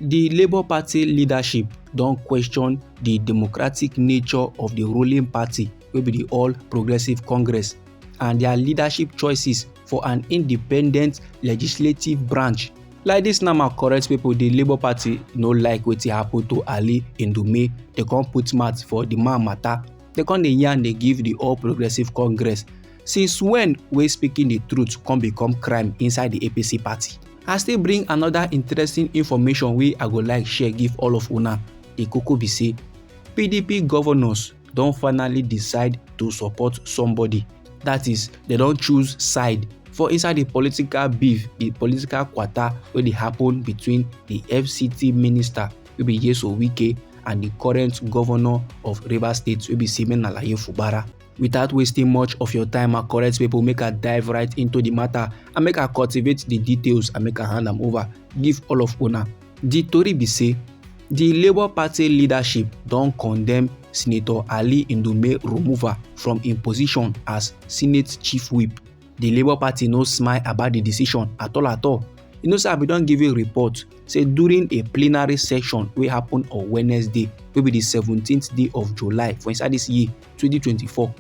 di labour party leadership don question di democratic nature of di ruling party wey be di all progressives congress and dia leadership choices for an independent legislative branch like dis na ma correct pipo di labour party no like wetin happen to ali ndume dem come put mouth for di man matter dem come dey yarn dey give di all progressives congress Since when wey speaking the truth come become crime inside the APC party? I still bring another interesting information wey I go like share give all of una. The koko be say PDP governors don finally decide to support somebody. That is, they don choose side for inside the political beef, the political kwata wey dey happen between the FCT minister wey be Yeso Wike and the current governor of Rivers State wey be Simon Alaye Fubara. Without wasting much of your time and correct people, make I dive right into the matter and make I cultivate the details and make I hand am over give all of una. The tori be say the Labour Party leadership don condemn Senator Ali Ndume removal from im position as Senate Chief Whip. The Labour Party no smile about the decision at all at all. You know say I bin don give a report say during a plenary session wey happen on Wednesday wey be the seventeenth day of July for inside this year 2024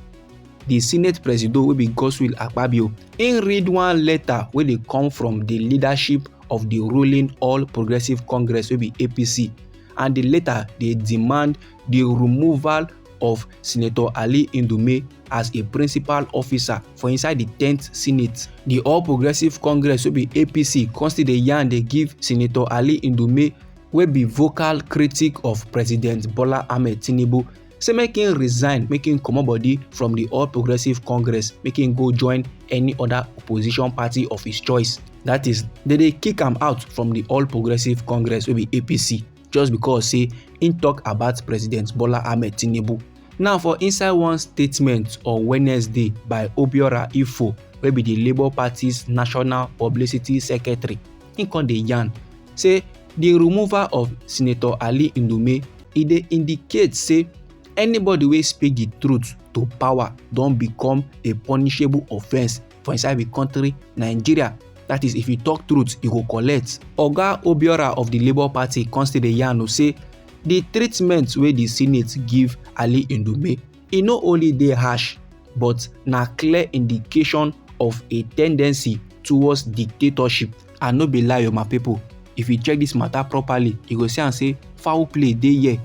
di senate presido wey be godswill akpabio im read one letter wey dey come from di leadership of di ruling all progressives congress wey be apc and di letter dey demand di removal of senator ali ndume as a principal officer for inside di 10th senate di all progressives congress wey be apc come still dey yarn dey give senator ali ndume wey be vocal critic of president bola ahmed tinubu say make him resign make him comot body from the all progressives congress make him go join any other opposition party of his choice that is they dey kick am out from the all progressives congress wey be apc just because say im tok about president bola ahmed tinubu now for inside one statement on wednesday by obiora ifo wey be di labour party's national publicity secretary im come dey yarn say di removal of senator ali ndume e dey indicate say anybody wey speak di truth to power don become a punishable offence for inside di country nigeria that is if you talk truth you go collect oga obiora of di labour party come still dey yarn say di treatment wey di senate give ali ndume e no only dey harsh but na clear indication of a tendency towards dictatorship and no be lie o my people if you check this matter properly you go see am say foul play dey here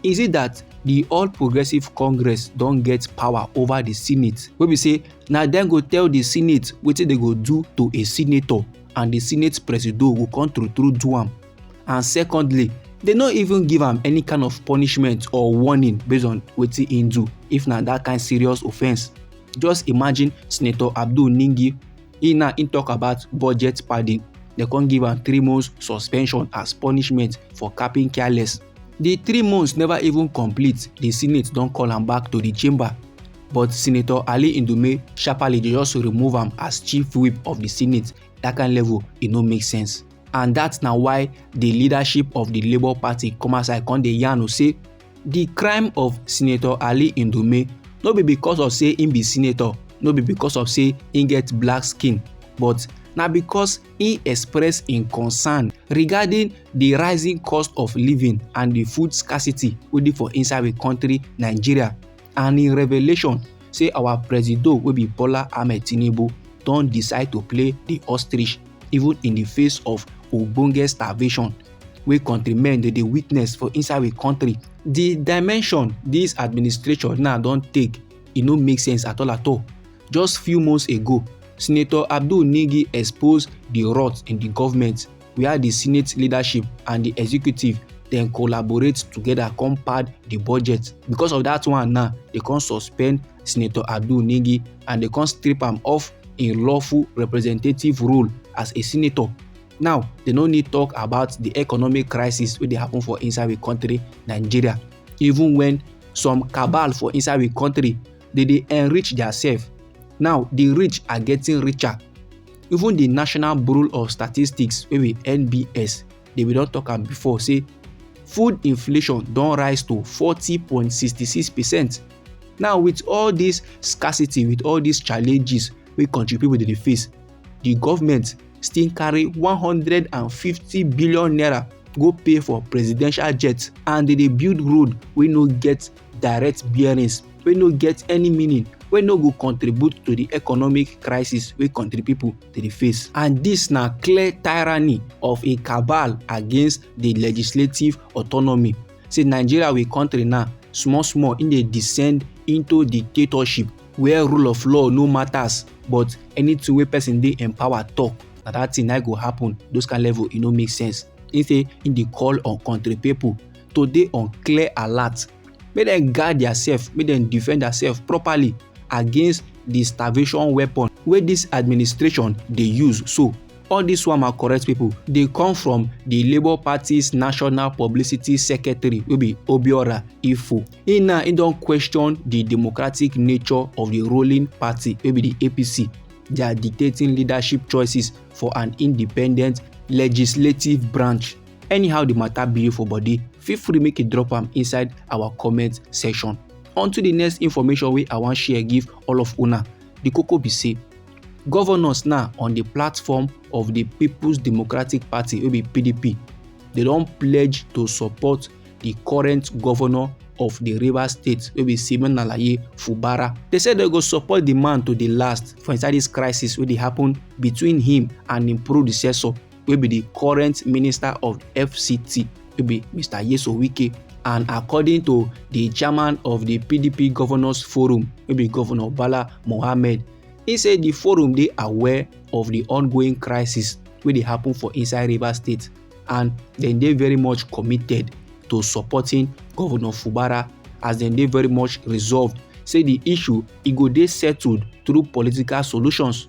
is it that the all progressives congress don get power over the senate wey be say na dem go tell the senate wetin dem go do to a senator and the senate presido go come true true do am and secondly they no even give am any kind of punishment or warning based on wetin he do if na that kind serious offence just imagine senator abdul ningi he na he talk about budget padding they come give am three months suspension as punishment for capping careless the three months never even complete the senate don call am back to the chamber but senator ali ndume sharparly dey just remove am as chief whip of the senate that kind level e no make sense and dat na why di leadership of di labour party come outside come dey yarn say di crime of senator ali ndume no be because of say im be senator no be because of say im get black skin but na because im express im concern regarding di rising cost of living and di food scarcity wey dey for inside di country nigeria and im revelation say our presido wey be bola ahmed tinubu don decide to play di ostrich even in di face of ogbonge starvation wey countrymen dey dey witness for inside we country. di dimension dis administration now don take e no make sense at all at all just few months ago senator abdul nigi expose di rot in di govment. wia di senate leadership and di executive dem collaborate together come pad di budget because of dat one now dem come suspend senator adu nigi and dem come strip am off im lawful representative role as a senator now dem no need talk about di economic crisis wey dey happen for inside we kontri nigeria even wen some cabal for inside we kontri they dey enrich themselves. Now the rich are getting richer. Even the National Bureau of Statistics, wey be NBS, they we don talk am before, say food inflation don rise to 40.66 percent. Now with all this scarcity, with all these challenges wey country people dey face, the government still carry 150 billion naira go pay for presidential jet and they dey build road wey no get direct bearings wey no get any meaning wey no go contribute to di economic crisis wey kontri pipo dey face and dis na clear tyranny of a cabal against di legislative autonomy say nigeria we kontri now small small e dey descend into dictatorship where rule of law no matters but anything wey person dey empower talk na that thing na go happen those kind level e no make sense he say he dey call on country people to dey on clear alert make dem guard theirself make dem defend theirself properly against the starvation weapon wey this administration dey use so all dis one ma correct pipo dey come from di labour party's national publicity secretary wey be obiora ifo e now e don question di democratic nature of di ruling party wey be di apc dia dictating leadership choices for an independent legislative branch Anyhow the matter be you for body, feel free make you drop am inside our comment section. On to the next information wey I wan share give all of una. The koko be say governors now on the platform of the People's Democratic Party wey be PDP, they don pledge to support the current governor of the Rivers State wey be Simon Alaye Fubara. They say they go support the man to the last for inside this crisis wey dey happen between him and him predecessor wey be di current minister of fct wey be mr yeso wike and according to di chairman of di pdp governors forum wey be governor bala mohammed e say di forum dey aware of di ongoing crisis wey dey happen for inside rivers state and dem dey very much committed to supporting governor fubara as dem dey very much resolved say di issue e go dey settled through political solutions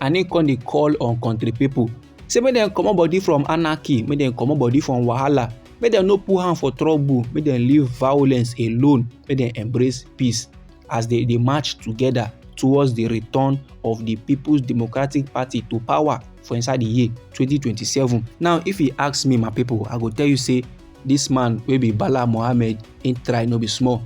and he come dey call on country people say make dem comot body from anarchy make dem comot body from wahala make dem no put hand for trouble make dem leave violence alone make dem embrace peace as they dey march together towards the return of the people's democratic party to power for inside the year 2027 now if you ask me my people i go tell you say this man wey be bala mohammed him try no be small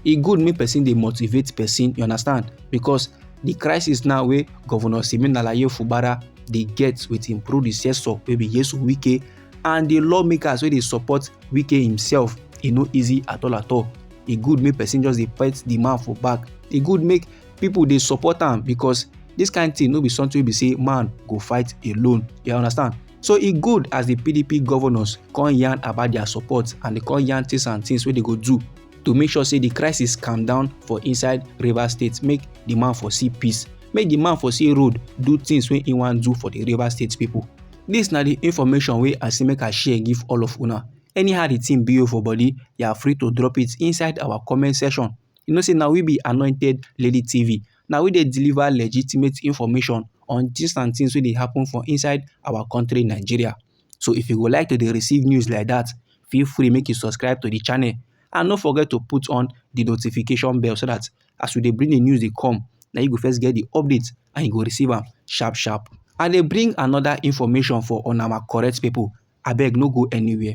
e good make person dey motivate person you understand because the crisis now wey governor siminalaye fubara dey get with im predecessor wey be yesu wike and the lawmakers wey dey support wike himself e no easy at all at all e good make person just dey pat the man for back e good make people dey support am because this kind thing no be something wey be say man go fight alone you understand so e good as the pdp governors come yarn about their support and they come yarn things and things wey they go do to make sure say the crisis calm down for inside rivers state make the man for see peace make the man for see road do things wey he wan do for the rivers state people this na the information wey i say make i share give all of una anyhow the thing be you for body you are free to drop it inside our comment section you know say na we be anointed lady tv na we dey deliver legitimate information on things and things wey dey happen for inside our country nigeria So if you go like to dey receive news like that, feel free make you subscribe to the channel and no forget to put on the notification bell so that as we dey bring the news dey come, na you go first get the update and you go receive am sharp sharp. I dey bring another information for on our correct people. Abeg no go anywhere.